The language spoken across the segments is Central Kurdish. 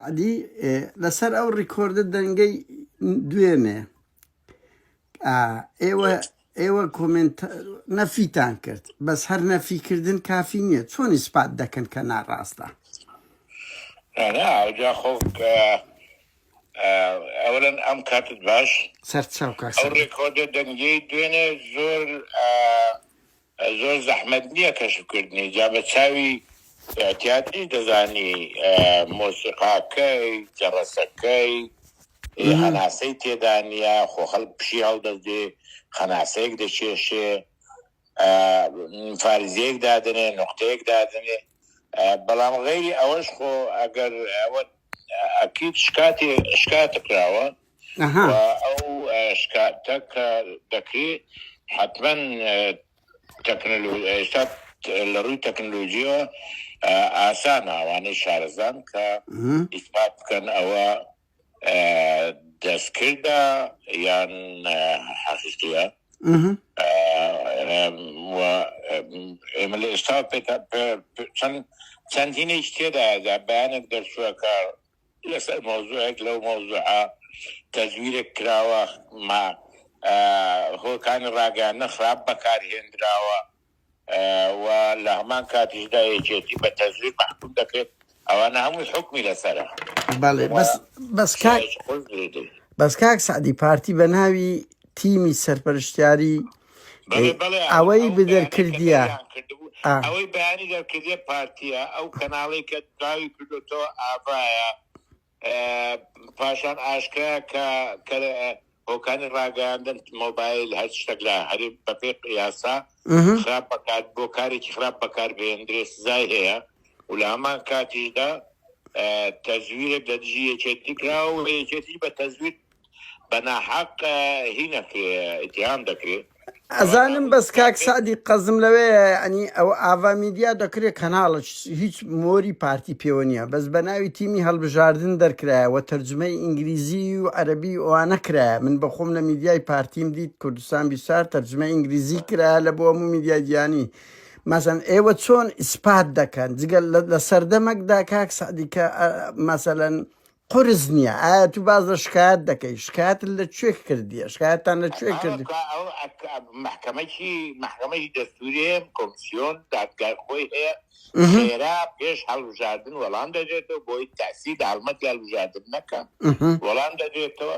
ئەدی لەسەر ئەو ڕیکۆردە دەنگەی دوێنێ ئێوە ئێوە کۆمنت نەفیتان کرد بەس هەر نەفیکردن کافی نییە چۆن ئیسپات دەکەن کە ناڕاستە جا خۆ ئەولەن ئەم کاتت باش سەرچاو ڕێکۆردە دەنگی دوێنێ زۆر زۆر زەحمەت نیە کەشف کردنی جا بە چاوی تیاتریش دەزانی مۆسیقاکەی جەڕەسەکەی هەناسەی تێدا نیە خۆ خەڵک پشی هەڵدەدێ خەناسەیەک دەکێشێ فارزیەک دادەنێ نوختەیەک دادەنێ بەڵام غەیری ئەوەش خۆ ئەگەر ئەوە ئەکیت شکاتی شکاتکراوە و ئەو شکاتە کە دەکرێ حەتمەن ئێستا لە ڕووی تەکنەلۆژیەوە ئاسانە ئەوانەی شارەزان کە ئیسپات بکەن ئەوە دەستکردە یان حەقیقیە ئێمە لە ئێستا چەند چەندینێک تێدا بەیانێک دەرچووە کە لەسەر مەوزوعێک لەو مەوزوعە تەزویرێک کراوە مە هۆکانی ڕاگەیاندنە خراپ بەکار هێندراوە و لە هەمان کاتیشدا یەکێتی بە تەزویر مەحکوم دەکرێت ئەوانە هەمووی حکومی لەسەرە بەڵێ و بەس بەس کاک شایش قول درێدەی بەس کاک سەعدی پارتی بە ناوی تیمی سەرپەرشتیاری ئەوەی بدەرکردە ئەوەی بەیانی دەرکردە پارتیە ئەو کەناڵی کە داوی کردوتەوە ئاڤایە پاشان ئاشکرا کە هۆکانی ڕاگەاندن مۆبایل هەر شتێک لە هەرێ بەپێ یاسا خراپ بەکات بۆ کارێکی خراپ بەکار بێندرێ سزای هەیە و لە هەمان کاتیشدا تەزویرێک لە دژی یەکێتی کرا و یەکێتی بە تەزویر بە ناحەق هینەکرێ ئتیهام دەکرێ. ئەزانم بەس کاک سەعدی قەزم لەوەیە یعنی ئەوە ئاڤا میدیا دەکرێت کەناڵە هیچ مۆری پارتی پێوە نییە بەس بە ناوی تیمی هەڵبژاردن دەرکرایە و تەرجمەی ئینگلیزی و عەربی ئەوانە کرایە من بەخۆم لە میدیای پارتیم دیت کوردستان بیسار تەرجمە ئینگلیزی کرا لە بۆ هەموو میدیا گیانی مەسەن ئێوە چۆن ئیسپات دەکەن جگەل لە سەردەمەکدا کاک سەعدیکە مەسەەن قورس نیە ئایا تو باس لە شکایەت دەکەی شکایەتت لە کوێ کردیە شکایەتتان لە کوێ کرد. مەحکەمە چی مەحکەمەی دەستوری هەیە کۆمسیۆن دادگای خۆی هەیە خێرا پێش هەڵبژاردن وەڵام دەدرێتەوە بۆی تاسی داڵمەتی هەڵبژاردن نەکا وەڵام دەدرێتەوە.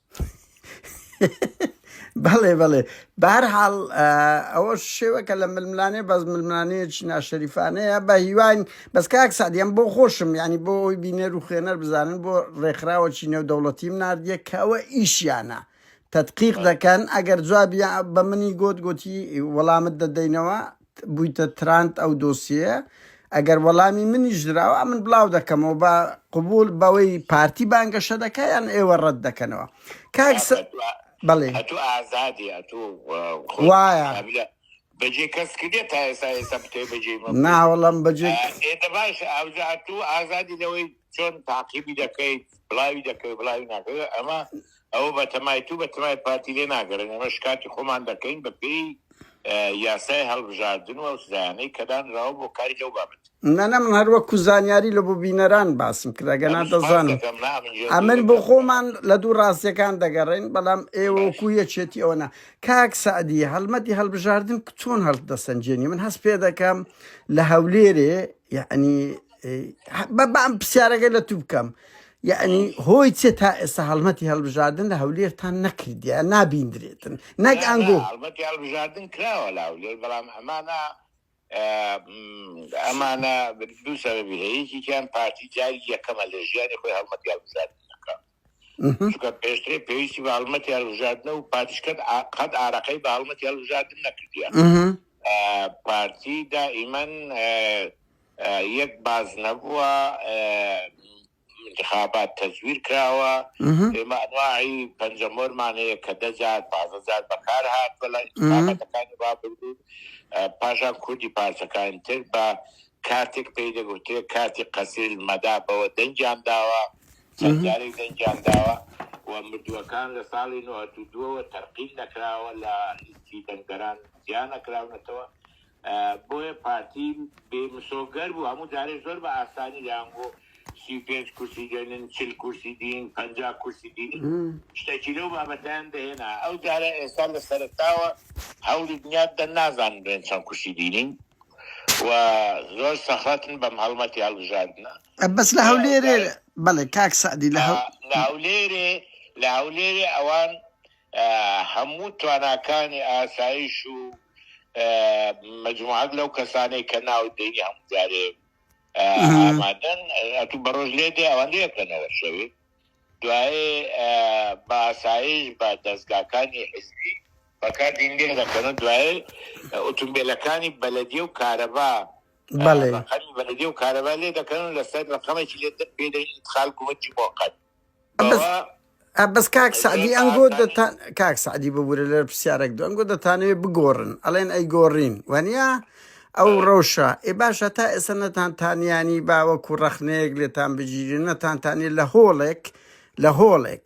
بەڵێ بەڵێ بارحاڵ ئەوە شێوەکە لە ململانێ بەس ململانەیەکی ناشەریفانەیە بە هیوان بەس کاک سادیان بۆ خۆشم ینی بۆ ئەوی بینەر و خوێنەر بزانن بۆ ڕێکخراوەکی نێو دەوڵەتیم نردە کەەوە ئیشیانە تدقیق دەکەن ئەگەر جوابیان بە منی گوت گوتی وەڵامت دەدەینەوە بویتە تراند ئەو دۆسیەیە ئەگەر وەڵامی منیش دراوە ئەمن بڵاو دەکەمەوە بە قبول بەوەی پارتی بانگەشە دەکە یان ئێوە ڕەت دەکەنەوە کاک بەڵێ ئەتوو ئازادی ئەتوو وایە بەجێ کەس کردێ تا ئێستا ئێستا بتێ بەجێ ناوەڵم بەجێ ئێتە باش ئەوزاتوو ئازادی لەوەی چۆن تاقیبی دەکەیت بڵاوی دەکەی بڵاوی ناکەی ئەمە ئەوە بەتەمای تو بەتەمای پارتی لێ ناگەڕێن ئێمە شکاتی خۆمان دەکەین بە پێی یاسای هەڵبژاردن و ئەو سزایانەی کە دانراوە بۆ کاری لەو بابەت. نەنە من هەر وەکو زانیاری لە بۆ بینەران باسم کرد ئەگەنا دەزانم ئەمن بۆ خۆمان لە دوو ڕاستیەکان دەگەڕێن بەڵام ئێوە وەکو یەکێتی ئەوە نا کاک سەعدی هەڵمەتی هەڵبژاردن چۆن هەڵدەسەنجێنی من هەست پێ دەکەم لە هەولێرێ یعنی بەبام پرسیارەکە لە تو بکەم یعنی هۆی چێ تا ئێستا هەڵمەتی هەڵبژاردن لە هەولێرتان نەکردە نابیندرێتن نەک ئەنگۆ هەڵمەتی هەڵبژاردن کراوە لە هەولێر بەڵام ئەمانە ئەمانە دوو سەرەبی هەیەکیان پارتی جاری یەکەمە لە ژیانی خۆی هەڵمەتی هەڵبژاردن چونکە پێشترێ پێویستی بە هەڵمەتی هەڵبژاردنە و پارتیش قەت ئا- قەت ئارەقەی بە هەڵمەتی هەڵبژاردن نەکردووە ئەها ئە، پارتی دائیمەن ئە، ئە، یەک باز نەبووە ئە، انتخابات تەزویر کراوە ئەها ئێمە ئەنواعی پەنجەمۆرمان هەیە کە دە جار پازە جار بەکار هاتووە لە انتخاباتەکانی ڕابردوو ئە، پاشان کوردی پارچەکانی تر بە کارتێک پێی دەگوترێت کارتی قەسیر المەدا بەوە دەنگیان داوە چەند جارێک دەنگیان داوە و مردووەکان لە ساڵی نۆهەد و دوو ەوە تەرقیم نەکراوە لە لیستی دەنگدەران جیا نەکراونەتەوە بۆیە پارتی بێ مسۆگەر بوو هەموو جارێ زۆر بە ئاسانی دەیانگۆ سی و پێنج کورسی دێنن چل کورسی دین پەنجا کورسی دین شتێکی لەو بابەتیان دەهێنا ئەو جارە ئێستا لە سەرتاوە هەولی دنیا دەن نازان بێن چەند کورسی دینین و زۆر سەخەتن بەم هەڵمەتی هەڵبژاردنە بەس لە هەولێرێ بەڵێ بەڵێ کاک سەعدی لە هەو لە هەولێرێ لە هەولێرێ ئەوان هەموو تواناکانی ئاسایش و مجموعات لەو کەسانەی کە ناو دەنگی هەموو جارێ ئامادەن ئەتو بەڕۆژ لێ دێ ئەوەندە یەکەنەوە شەوێ دوای بە ئاسایش بە دەستگاکانی حزبی بەکاردین لێ دەکەن و دوای ئۆتومبیلەکانی بەلەدیە و کارەبا بەڵێ. ڕەقەمی بەلدیە و کارەبا لێ دەکەن و لەسەر ڕەقەمێکی لێ پێی دەین ئیدخال گومرکی موقەت. بەوە. ئەبەس. بەس کاک سەعدی ئەنگۆ ئاسانی. دەتان کاک سەعدی ببورە لەر پرسیارەک دو ئەنگۆ دەتانەوێ بگۆڕن ئەڵێن ئەیگۆڕین وەنیە ئەو بەڵێ. ڕەوشە ئێ باشە تا ئێستا نەتان تانیانی با وەکو ڕەخنەیەک لێتان بگیرێ نەتان تانیە لە هۆڵێک لە هۆڵێک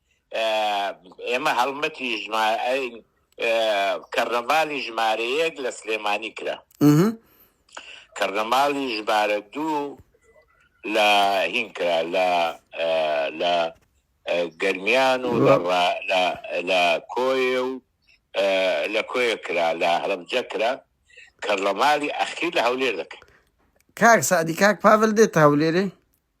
ئێمە هەڵمەتی کەڕنەڤالی ژمارەیەک لە سلێمانی کرا کەڕنەماڵی ژمارە دوو لە هین کرا لە لە گەرمیان و لە کۆی و لە کۆی کرا لە هەڵبجە کرا کەڕنەماڵی ئەخیر لە هەولێر دەکەن کاک سادی کاک پاڤل دێت هەولێرێ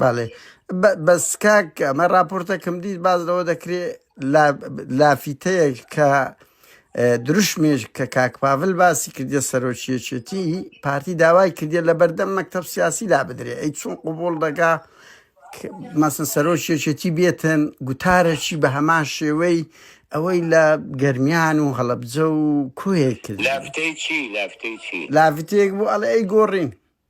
بەڵێ بە- بەس کاک ئەمە راپۆرتەکەم دیت باز لەوە دەکرێ لا- لافیتەیەک کە اه، دروشمێش کە کاک پاڤل باسی کردە سەرۆکیەکێتی پارتی داوای کردێ لە بەردەم مەکتب سیاسی لا بدرێ ئەی چون قوبول دەگا کە مەسن سەرۆکیەکێتی بێتن گوتارەکی بە هەمان شێوەی ئەوەی لە گەرمیان و هەڵەبجە و کوێ کردی لافتەی چی لافتەی چی لافتێک بوو ئەڵێ ئەی گۆڕین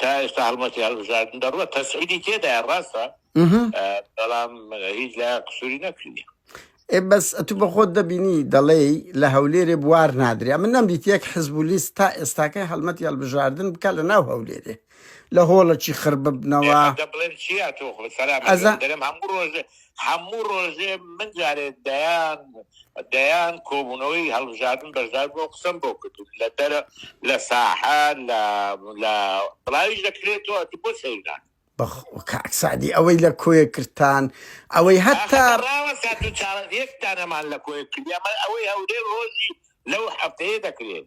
تا ئێستا هەڵمەتی هەڵبژاردن دەڕوە تەسعیدی تێدایە ڕاستە بەڵام هیچ لە قسووری نەکردی ئێ بەس ئەتو بە خۆت دەبینی دەڵێی لە هەولێرێ بوار نادرێ من نەم دیت یەک حزب و لیست تا ئێستاکەی هەڵمەتی هەڵبژاردن بکە لە ناو هەولێرێ لە هۆڵەکی خڕ ببنەوە ئێ، بە دەبڵێم چیە تۆ خۆ سەلام ئەزا- دەرم هەموو ڕۆژ هەموو ڕۆژێ من جارێ دەیان دەیان کۆبوونەوەی هەڵبژاردن بەشدار بۆ قسم بۆ کردن لە دەرە لە ساحە لە لە بڵاویش دەکرێت تۆ ئەتو بۆ سەیران کاک سعدی ئەوەی لە کۆیە کردتان ئەوەی هەتا یەکتانەمان لە کۆیە کردیان ئەوەی هەورێ ڕۆژی لەو هەفتەیە دەکرێت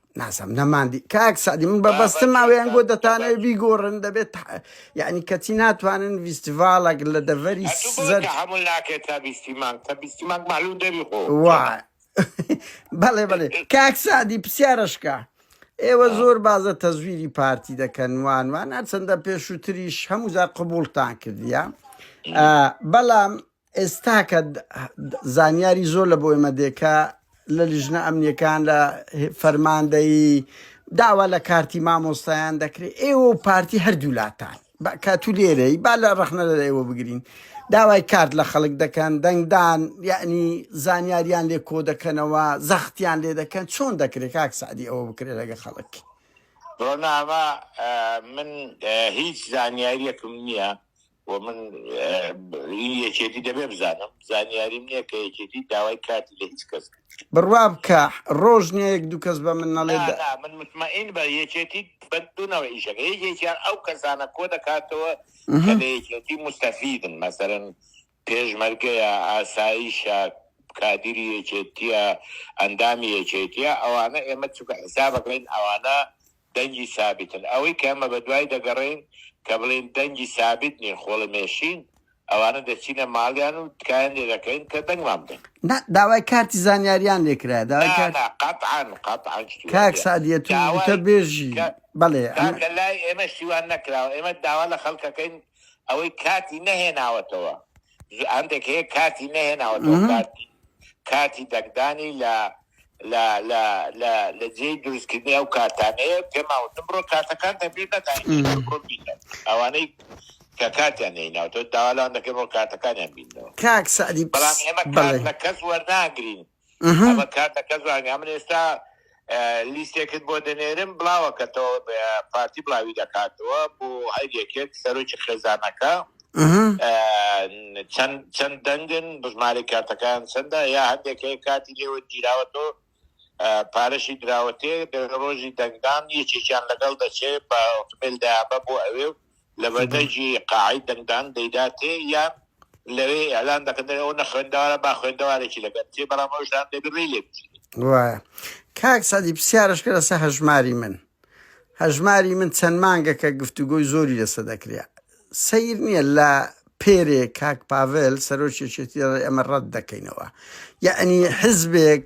ناسم نەماندی کاک سعدی من بە بەستم ماوەیان گۆ دەتانەوە بیگۆڕن دەبێت یعنی کەچی ناتوانن ویستیڤالێک لە دەڤەری زەر هەموو ناکێت تا بیستی مانگ تا بیستی مانگ معلوم دەبی خۆ بەڵێ بەڵێ کاک سعدی پرسیارەشکە ئێوە زۆر بازە تەزویری پارتی دەکەن وانوان هەرچەندە پێشووتریش هەمووزار قبولتان کردیە بەڵام ئێستا کە زانیاری زۆر لە بۆ ئێمە دێ کە لە لیژنە ئەمنیەکان لە فەرماندەیی داوا لە کارتی مامۆستایان دەکرێت ئێوە و پارتی هەردوولاتان کاتو لێرەی با لە ڕخنە لە ئێوە بگرین داوای کارت لە خەڵک دەکەن دەنگدان یعنی زانیاریان لێ کۆ دەکەنەوە زەختیان لێ دەکەن چۆن دەکرێت کاک سعدی ئەوە بکرێت لەگە خەڵک ڕۆناما من هیچ زانیاریەکم نییە و من ئی یەکێتی دەبێ بزانم زانیاریم نیە کە یەکێتی داوای کارتی لە هیچ کەس کرد. بڕوا بکە ڕۆژ نیە یەک دوو کەس بە من نەڵێ دە. نا نا من متمەئین بە یەکێتی بە دوو نەوعی ئیشەکە یەکێکیان ئەو کەسانە کۆ دەکاتەوە کە لە یەکێتی موستەفیدن مەسەلەن پێشمەرگەیە ئاسایشە کادیری یەکێتیە ئەندامی یەکێتیە ئەوانە ئێمە چونکە حیسابەکەین ئەوانە دەنگی سابیتن ئەوەی کە ئەمە بەدوای دەگەڕێین کە بڵێین دەنگی سابیت نین خۆڵەمێشین ئەوانە دەچینە ماڵیان و تکایان لێ دەکەین کە دەنگمان بدەن. نا داوای کارتی زانیاریان لێ کرایە داوای کارتی. نا نا قەتعەن قەتعەن شتی وا نیە کاک سعدیە تو داوای وتە بێژی کە بەڵێ ئەمە. کاکە لای ئێمە شتی وا نەکراوە ئێمە داوا لە خەڵکەکەین ئەوەی کارتی نەهێناوەتەوە هەندێک هەیە کارتی نەهێناوەەوە کارتی کارتی دەنگدانی لە لە جێی دروستکردنی ئەو کارتانەیە پێماوتم بڕۆ کارتەکان دەبێت نەداین ئەوانەی کە کاتیان نیناوتە داوالاان دەکەم بۆ کاتەکانیان بینەوە کاک سعدی بەڵام ئێمە کات لە کەس وەرناگرین ئەمە کار دەکە زانیا من ئێستا لیستێکت بۆ دەنێرم بڵاوەکەتەوە بە پارتی بڵاوی دەکاتەوە بۆ هەر یەکێک سەرۆکی خێزانەکە چەند دەنگن بژماری کارتەکان چەندە یا هەندێکی کاتی لێوە گیراوەەوە پارەشی دراوەتێ ڕۆژی دەنگدان یەکێکیان لەگەڵ دەچێت بە ئۆتومبیل دابە بۆ ئەوێ و لەبەردەرگی قاعەی دەنگدان دەیداتێ یان لەوێ ئیعلان دەکەن دەرێ ئەو نەخوێندەوارە با خوێندەوارێکی لەگەل بچێ بەڵام ئەوش دان دەبێ ڕێی لێ بچێ. وایە کاک سەعدی پسیارش کە لەسە هەژماری من هەژماری من چەند مانگەکە گفتوگۆی زۆری لەسە دەکرێ سیر نییە لە پێرێ کاک پاڤل سەرۆکی چێتی ئەمە ڕەت دەکەینەوە یعنی حزبێک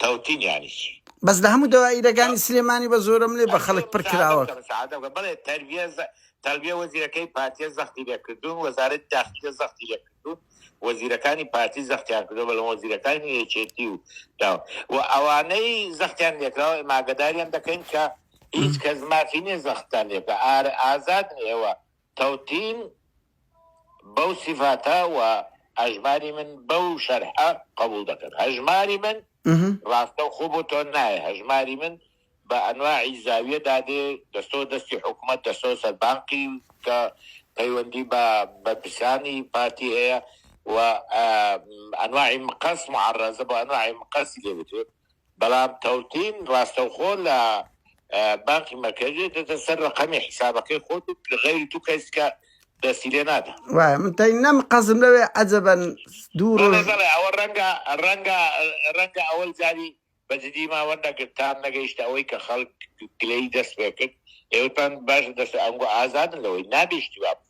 تەوتین یانی چی؟ بەس لە هەموو دەوائیرەکانی سلێمانی بە زۆرەملێ بە خەڵک پڕ کراوە. بەڵێ تەربیە زە تەربیە وەزیرەکەی پارتیە زەختی لێ کردوون وەزارەتی داخلیە زەختی لێ کردوون وەزیرەکانی پارتی زەختیان کردوە بەڵام وەزیرەکانی یەکێتی و دا و ئەوانەی زەختیان لێکراوە ئێمە ئاگەداریان دەکەین کە هیچ کەس مافی نیە زەختان لێ بکا ئار ئازادن ئێوە تەوتین بەو سیفاتە و هەژماری من بەو شەرحە قەبوڵ دەکەن هەژماری من ڕاستە خۆ بۆ تۆ نایە هەژماری من بە ئەنواعی زاویە دادێ دەستۆ دەستی حکوومەت دەستۆ سەربانقی کە پەیوەندی بە بەرپرسانی پارتی هەیە و ئەنواعی مقەس معڕزە بە ئەنواعی مقەسی لێ بتێت بەڵام تەوتین ڕاستەوخۆ لە بانقی مەرکەزی دێتە سەر ڕەقەمی حیسابەکەی خۆت و غەیری تو کەس کە دەستی لێ نادا. وایە من تەی نەم قەزم لەوێ عەجەبەن دوو ڕۆژ. بەڵێ بەڵێ ئەوە ڕەنگە ڕەنگە ڕەنگە ئەوەی جاری بە جدی ما وەرنەگرت تام نەگەیشتە ئەوەی کە خەڵک گلەیی دەست پێ کرد ئێوەتان باشە دەست ئەنگۆ ئازادن لەوەی نابێ ئیشتیبا بکەن.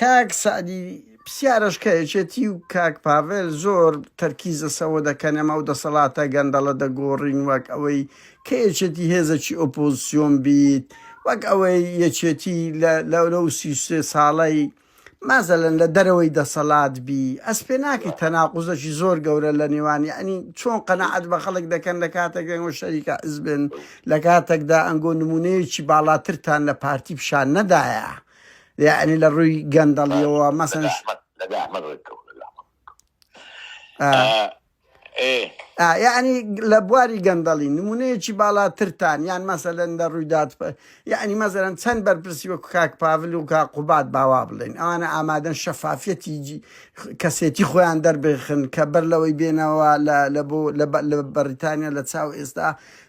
کاک سەعدی پسیارەش کە یەکێتی و کاک پاڤێل زۆر تەرکیز لە سەوە دەکەن ئەم ئەو دەسەڵاتە گەندەڵە دەگۆڕین وەک ئەوەی کە یەکێتی هێزەکی ئۆپۆزسیۆن بیت وەک ئەوەی یەکێتی لە لەو سی سێ ساڵەی مازەلەن لە دەرەوەی دەسەڵات بی ئەس پێ ناکەی تەناقوزەکی زۆر گەورە لە نێوانی ئەنی چۆن قەنەعەت بە خەڵک دەکەن لە کاتێک دەنگۆ شەریکە ئەزبن لە کاتێکدا ئەنگۆ نمونەیەکی باڵاترتان لە پارتی پیشان نەدایە یعنی لە ڕووی گەندەڵیەوە مەسەن یعنی لە بواری گەندەڵی نمونەیەکی باڵاترتان یان مەسەلەن لە ڕوویدات یعنی مەزەرن چەند بەرپرسی وەکو کاک پاڤل و کا قوبات باوا بڵێن ئەوانە ئامادەن شەفافەتی کەسێتی خۆیان دەربخن کە بەر لەوەی بێنەوە لە بۆ لە بەریتانیا لە چاو ئێستا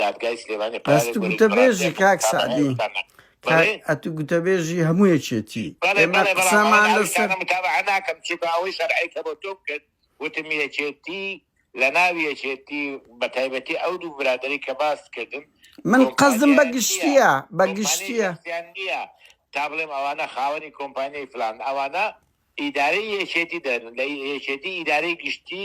دادگای سلێمانی قرارێک ئەست گوتە بێژی کاک سەعدی ئەتو گوتە بێژی هەموو یەکێتی ئێمە قسەمان لەسەر ناکەم چونکە ئەوەی شەرعی کە بۆ تۆ کرد وتم یەکێتی لە ناوی یەکێتی بە تایبەتی ئەو دوو برادری کە باست کردن من قەزم بە گشتیە بە گشتیە نیە تا بڵێم ئەوانە خاوەنی کۆمپانیای فلان ئەوانە ئیدارەی یەکێتی دەن لە یەکێتی ئیدارەی گشتی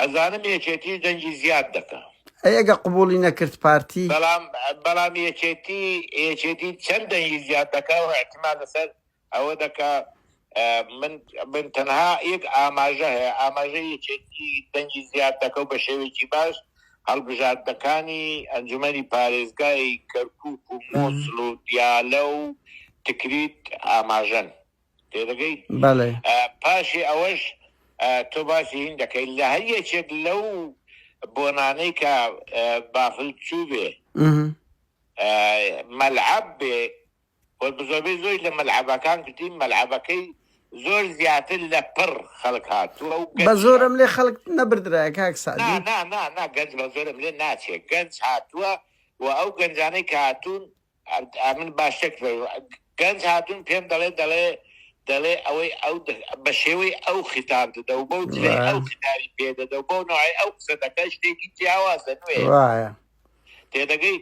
ئەزانم یەکێتی دەنگی زیاد دەکا. ئەی ئەگە قبوڵی نەکرد پارتی؟ بەڵام بەڵام یەکێتی یەکێتی چەند دەنگی زیاد دەکا و ئیحتیمال لەسەر ئەوە دەکا من من تەنها یەک ئاماژە هەیە ئاماژە یەکێتی دەنگی زیاد دەکە و بە شێوێکی باش هەڵبژاردنەکانی ئەنجومەنی پارێزگای کەرکوک و مۆسل و دیالە و تکریت ئاماژەن. تێدەگەی بەڵێ پاشی ئەوەش تۆ باسی هین دەکەیت لە هەر یەکێک لەو بۆنانەی کە بافل چوو بێ مەلعب بێ وە بزۆبەی زۆی لە مەلعبەکان کردین مەلعبەکەی زۆر زیاتر لە پڕ خەڵک هاتووە و بە زۆرم لێ خەڵک نەبردرایە کاک سعدی نا نا نا نا گەنج بە زۆرم لێ ناچێت گەنج هاتووە و ئەو گەنجانەی کە هاتوون ئەمن باش تێک فەرو گەنج هاتوون پێم دەڵێ دەڵێ دەڵێ ئەوەی ئەو بە شێوەی ئەو خیتاب دەدە و بەو جلەی ئەو خیتاری پێ دەدە و بەو نوعی ئەو قسە دەکە شتێکی جیاوازە نوێ وایە تێدەگەی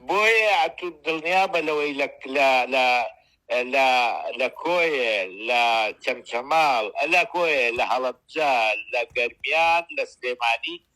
بۆیە ئەتو دڵنیا بە لەوەی لە لە لە لە لە کۆیە لە چەمچەماڵ لە کۆیە لە هەڵەبجە لە گەرمیان لە سلێمانی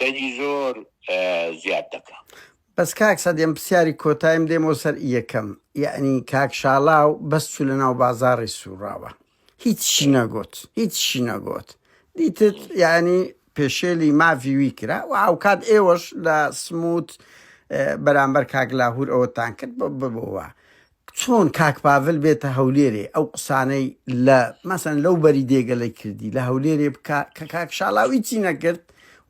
دەنگی زۆر زیاد دەکا. بەس کاک سەدێم پسیاری کۆتایم دێم بۆ سەر یەکەم یعنی کاک شاڵاو بەس چو لە ناو بازاڕی سوڕاوە هیچی نەگۆت هیچی نەگۆت دیتت یعنی پێشێلی ماڤی وی کرا و هاوکات ئێوەش لە سموت بەرامبەر کاک لاهور ئەوەتان کرد بۆ ببووە چۆن کاک پاڤل بێتە هەولێرێ ئەو قسانەی لە مەسەن لەو بەری دێگەلەی کردی لە هەولێرێ بکا کە کاک شاڵاو ئیچی نەکرد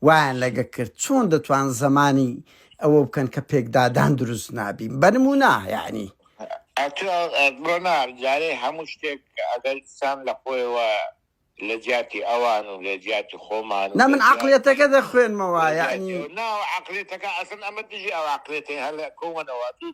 وایان لەگە کرد چۆن دەتوان زەمانی ئەوە بکەن کە پێکدادان دروست نابین بەنمونا یانی ڕۆناڵ جارێ هەموو شتێک ئەگەر سام لە خۆیەوە لە جیاتی ئەوان و لە جیاتی خۆمان نە من عقلێتەکە دەخوێنمەوە یعنی ناو عقلێتەکە ئەسن ئەمە دژی ئەو عقلێتی هەل کۆمەنەوە دوو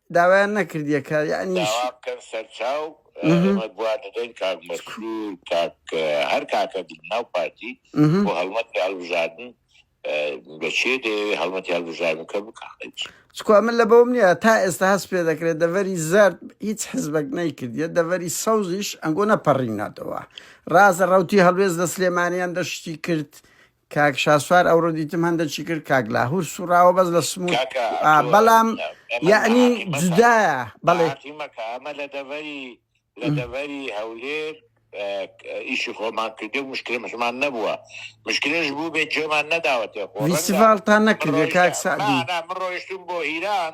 داوایان نەکردیە کە یەعنی چ؟ داوا بکەن سەرچاو ئێمە گوا دەدەین کاک مەسرور کاک هەر کاکە لەناو پارتی بۆ هەڵمەتی هەڵبژاردن لە چێ دەیەوێ هەڵمەتی هەڵبژاردنکە بکا خەی چ؟ چکوا من لەبەوەم نیە تا ئێستا هەست پێ دەکرێت دەڤەری زەرد هیچ حزبەک نەیکردیە دەڤەری سەوزیش ئەنگۆ نەپەڕیناتەوە ڕازە ڕەوتی هەڵوێست لە سلێمانیان دەشتی کرد کاک شاسوار ئەوڕۆ دیتم هەندە چی کرد کاک لاهور سوڕاوە بەس لە سموو بەڵام یعنی جودایە بەڵێ مەکە ئەمە لە دەڤەری لە دەڤەری هەولێر ئیشی خۆمان کردێ مشکل مشمان نەبووە مشکلش بوو بێت جێمان نەداوەتێ خۆستان نەکردێ کاک سعدی ڕۆیشتون بۆ ئیران